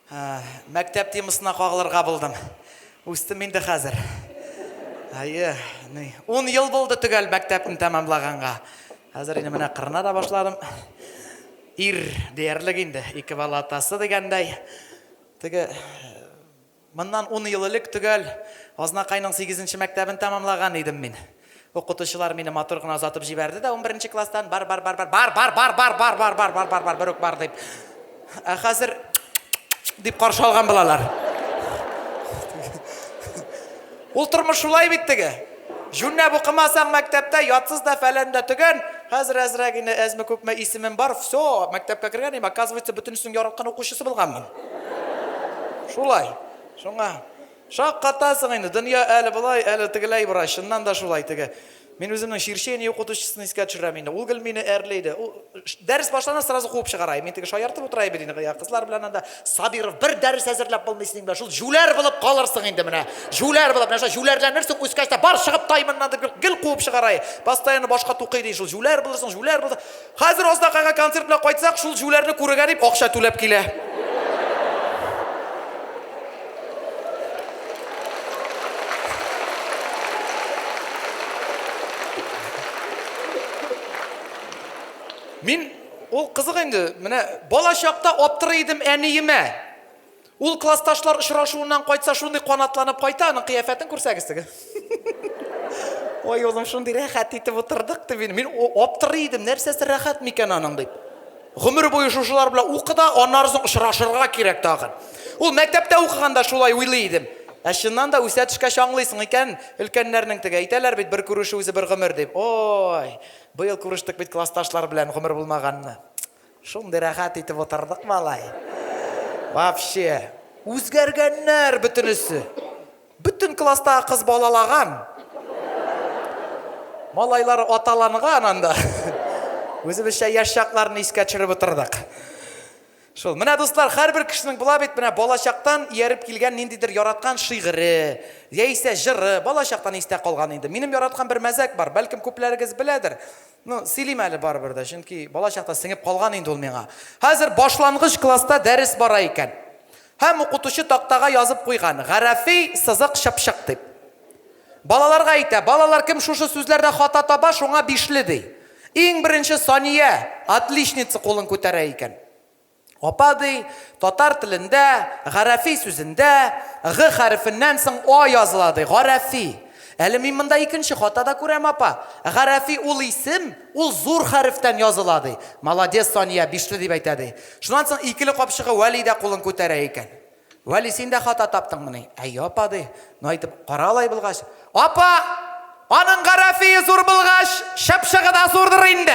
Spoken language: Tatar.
Мәктәп темасына кагылырга булдым. Үстем инде хәзер. Әйе, ни, ун ел булды төгәл мәктәпне тәмамлаганга. Хәзер инде менә кырына да башладым. Ир диярлек инде, ике бала атасы дигәндәй. Теге Моннан ун ел элек төгәл Азнакайның сигезенче мәктәбен тәмамлаган идем мин. Укытучылар мине матур гына озатып җибәрде дә унберенче класстан, Бар, бар, бар, бар, бар, бар, бар, бар, бар, бар, бар, бар, бар, бар, бер үк бар, дип. Ә хәзер дип каршы алган булалар. Ул тормыш шулай бит теге. Җүнләп укымасаң мәктәптә, ятсыз да, фәлән дә, төгән. Хәзер әзрәк инде, әзме-күпме исемем бар, всё, мәктәпкә кергән идем, оказывается, бөтенесенең яраткан укучысы булганмын. Шулай. Шуңа шаккатасың инде, дөнья әле болай, әле тегеләй бара, чыннан да шулай теге. Мин үземнең черчение укытучысын искә төшерәм инде. Ул гел мине әрли иде. Ул дәрес башлана, сразу куып чыгара. Мин теге шаяртып утыра бит инде. Я кызлар белән анда Сабиров бер дәрес әзерләп булмый синең белән. Шул җүләр булып калырсың инде менә. Җүләр булып, нәрсә җүләрләнерсең үскәч тә бар чыгып тай моннан дип гел куып чыгара. Постоянно башка тукый ди. Шул җүләр булырсың, җүләр булыр. Хәзер Азнакайга концерт белән кайтсак, шул җүләрне күрергә дип акча түләп килә. Мин, ул кызык инде, менә балачакта аптырый идем әниемә. Ул классташлар очрашуыннан кайтса шундый канатланып кайта, аның кыяфәтен күрсәгез теге. Ой, улым, шундый рәхәт итеп утырдык дип, мин аптырый идем, нәрсәсе рәхәт микән аның дип. Гомер буе шушылар белән укы да, аннары соң очрашырга кирәк тагын. Ул мәктәптә укыганда шулай уйлый идем. Ә чыннан да үсә төшкәч аңлыйсың икән, өлкәннәрнең теге әйтәләр бит, бер күрешү үзе бер гомер дип. Ой, быел күрештек бит классташлар белән, гомер булмаганны. Шундый рәхәт итеп утырдык малай. Вообще. Үзгәргәннәр бөтенесе. Бөтен класстагы кыз балалаган. Малайлар аталанган анда. Үзебезчә яшь чакларны искә төшереп утырдык. Шул. Менә дуслар, һәрбер кешенең була бит, менә балачактан ияреп килгән ниндидер яраткан шигыре, яисә җыры, балачактан истә калган инде. Минем яраткан бер мәзәк бар, бәлкем күпләрегез беләдер. Ну, сөйлим әле барыбер дә, чөнки бала чакта сеңеп калган инде ул миңа. Хәзер башлангыч класста дәрес бара икән. Һәм укытучы тактага язып куйган, гарәфи сызык чыпчык дип. Балаларга әйтә, балалар кем шушы сүзләрдә хата таба, шуңа бишле, ди. Иң беренче Сания, отличница кулын күтәрә икән. Апа ди, татар телендә, гарәфи сүзендә, г хәрефеннән соң а языла ди, гарәфи. Әле мин монда икенче хата да күрәм, апа. Гарәфи ул исем, ул зур хәрефтән языла ди. Молодец, Сания, бишле дип әйтә ди. Шуннан соң икеле капчыгы Вәли дә кулын күтәрә икән. Вәли, син дә хата таптыңмыни? Әйе, апа, ди. Ну, әйтеп, кара алай булгач. Апа! Аның гарәфие зур булгач, чыпчыгы да зурдыр инде!